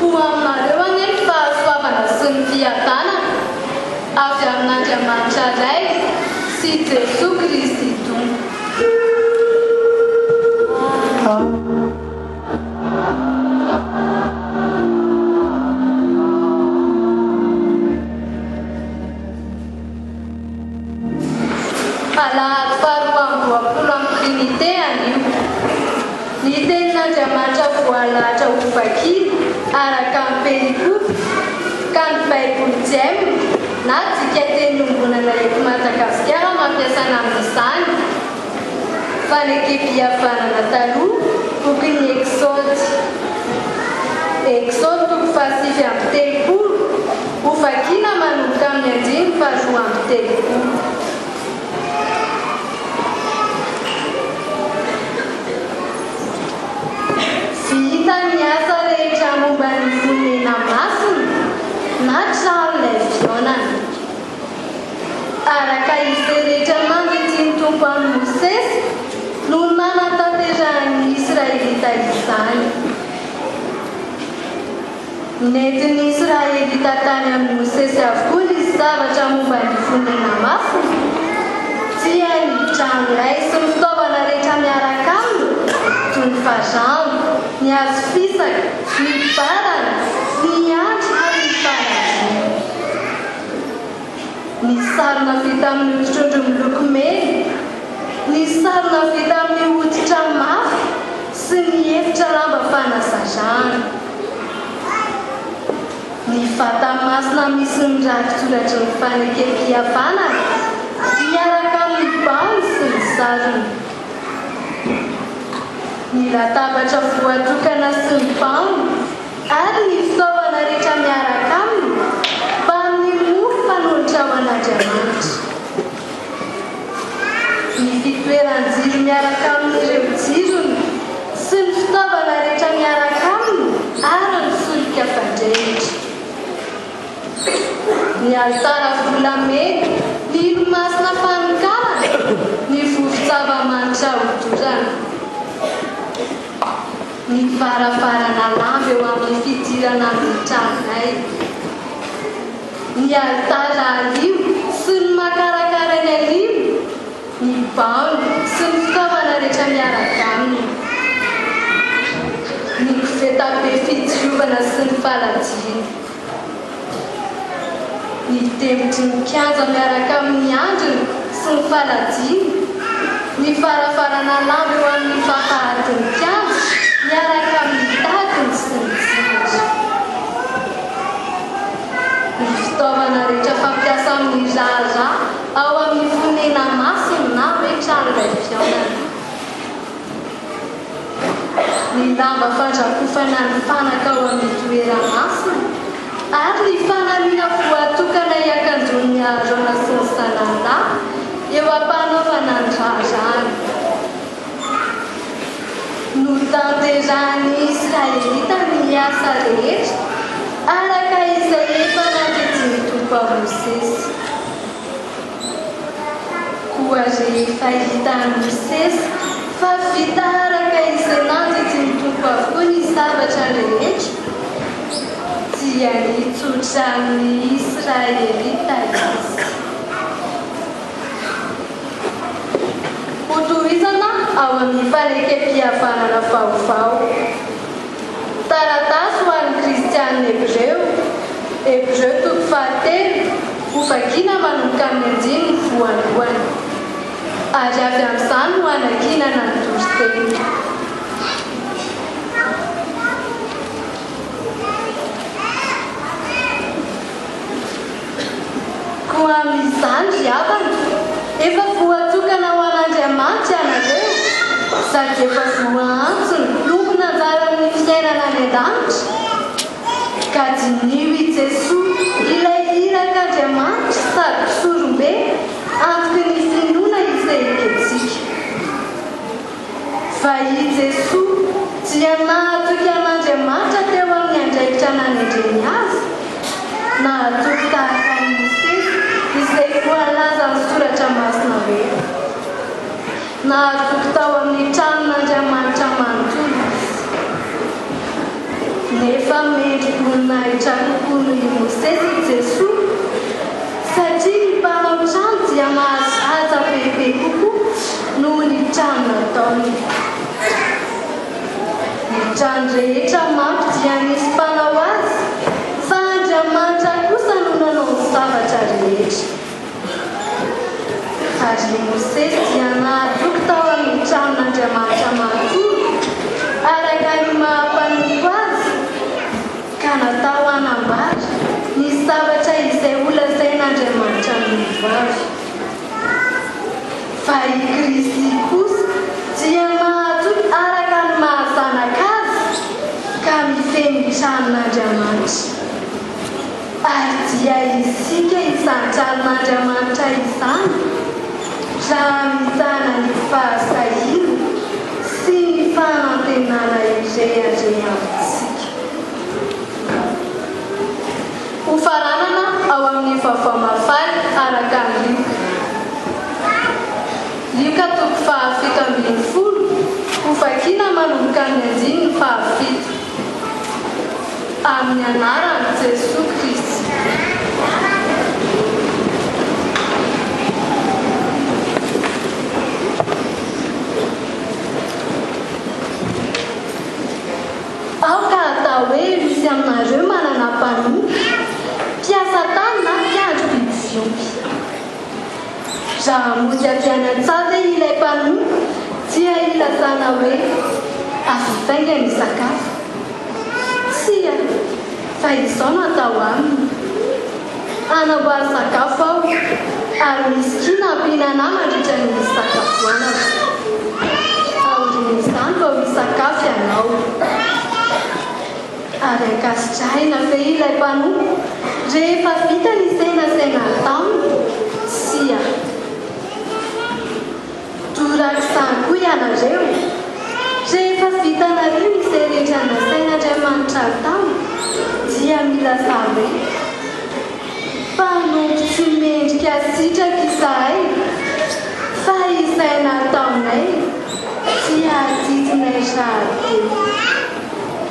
Ho aminareo anie ny fahasoavana sy ny fiadanana avy amin'Andriamanitra Ray sy Jesoa Kristy Tompo. Alahady faharoa amby roapolo amin'ny Trinite anio. Ny Tenin'Andriamanitra voalahatra ho vakina araka ny perikope ka ny Baiboly Jm na dikateny iombonana eto Madagasikara no ampiasaina amin'izany. Fanekempihavanana taloha Boky ny Eksody Eksody toko fahasivy amby telopolo Ho vakiana manomboka amin'ny andininy faharoa amby telopolo. Vita ny asa rehetra momba ny Fonena Masina na tranon'ilay fihaonana. Araka izay rehetra nandidian'ny Tompo an'i Mosesy no nanatanterahan'ny Israelita izany. Nentin'ny Israelita tany amin'i Mosesy avokoa ny zavatra momba ny fonena masina, dia ny tranolay sy ny fitaovana rehetra miaraka aminy, toy ny fajambo, ny hazo fisaka, ny barana, ny andry ary ny falaviana. Ny sarona vita amin'ny hoditr'ondry miloko mena, ny sarona vita amin'ny hoditra mafy sy ny efitra lamba fanazarana. Ny vata masina misy ny rakitsoratry ny fanekempihavanana miaraka amin'ny baony sy ny sarony. Ny latabatra voatokana sy ny baony. Ary ny fitaovana rehetra miaraka aminy, fa amin'ny mofo fanolotra ho an'Andriamanitra. Ny fitoeran-jiro miaraka amin'ireo jirony, sy ny fitaovana rehetra miaraka aminy, ary ny solika fandrehitra. Ny alitara volamena, ny ilomasina fanokarana, ny vovon-tsava-manitra hodorana. Ny varavarana lava eo amin'ny fidirana ny tranonay, ny alitara ario sy ny makarakara eny anivony, ny baomba sy ny fitaovana rehetra miaraka aminy, ny koveta be fidiovana sy ny faladiany. Ny fitevitry ny kianja miaraka amin'ny andriny sy ny falajiany, ny farafarana lava eo amin'ny fahafahaton'ny kianja miaraka amin'ny tadiny sy ny jirony, ny fitaovana rehetra fampiasa amin'ny raharaha ao amin'ny fonena masina na hoe trano iray fihaonana. ny lamba fandrakofana ny fanaka ao amin'ny toeram-masina ary ny fanamiana voatokana hiakanjoan'ny haharana sy ny salan'lah eo am-panaovana ny raharahany. Notanterahin'ny Israelita ny asa rehetra araka izay efa nampiantsy ny Tompo an'i Mosesy. Koa rehefa hita amin'ny seza fa vita araka izay nandidin'ny Tompo avokoa ny zavatra rehetra, dia nitsotra amin'ny Israelita Izy. Hotohizana ao amin'ny fanekempihavanana vaovao. Taratasy ho an'ny Kristianina Hebreo, Hebreo toko fahatelo, ho vakiana manomboka amin'ny andininy voalohany. Ary avy amin'izany no hanankinana ny toriteny. Koa amin'izany ry havana, efa voatokana ho an'Andriamanitra ianareo, sady efa voaantso ny tompon' anjaran' ny fiainana any an-danitra. Ka diniho i Jesoa, ilay irak' Andriamanitra sady Mpisorombe, antoky ny finoana isehokentsika. Fa i Jesoa, dia nahatoky an'Andriamanitra teo amin'ny andraikitra nanendreny Azy. Nahatoky tahaka an'i Mosesy, izay voalaza amin'ny Soratra Masina hoe, Nahatoky tao amin'ny tranon'Andriamanitra manontolo Izy. Nefa mendri boninahitra kokoa noho i Mosesy i Jesoa, satria ny mpanao trano dia mahazo haja bebe kokoa. Noho ny trano nataony. Ny trano rehetra manko dia nisy mpanao azy, fa Andriamanitra kosa no nanao ny zavatra rehetra. Ary i Mosesy dia nahatoky tao amin'ny tranon'Andriamanitra manontolo, araka ny maha-mpanompo azy, ka natao hanambara ny zavatra izay holazain'Andriamanitra amin'ireo avy. Fa i Kristy kosa dia mahatoky araka ny maha-Zanaka Azy ka mifehy ny tranon'Andriamanitra. Ary dia isika izany tranon'Andriamanitra izany raha mizana ny fahasahiana sy ny fanantenana ireharehantsika. Ho faranana ao amin'ny Vaovao Mahafaly araka an'i Lioka. Lioka toko fahafito ambin'ny folo, ho vakiana manomboka amin'ny andininy fahafito. Amin'ny anaran'i Jesoa Kristy. Ao ka atao hoe misy aminareo manana mpanompo, mpiasa tany na mpiandry biby fiompy. Raha mody avy any an-tsaha ve ilay mpanompo dia ilazana hoe avy faingana hisakafo? Tsia, fa izao no atao aminy. Hanambary sakafo aho ary misy kiana hampiana anà mandritra ny fisakafoanako. Aorian'izany vao hisakafo ianao. Ary ankasitrahina ve ilay mpanompo rehefa vita ny senasenan-taminy? Tsia. Dorary izany koa ianareo. Rehefa vitanareo izay rehetra nasain'Andriamanitra atao dia milazà hoe, Mpanompo tsy mendrika sitraka izahay, fa izay nataonay dia adidinay rahateo.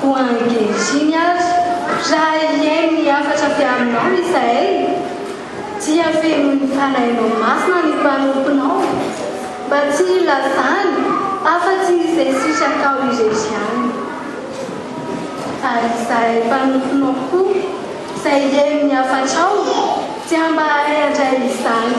Koa ankehitriny ary, raha hihaino ny hafatra avy aminao izahay, dia fenoin'ny Fanahinao Masina ny mpanomponao, mba tsy hilazany afa-tsy izay sitrakao irery ihany. Fa izahay mpanomponao koa, izay hihaino ny hafatrao, dia mba hahay handray izany.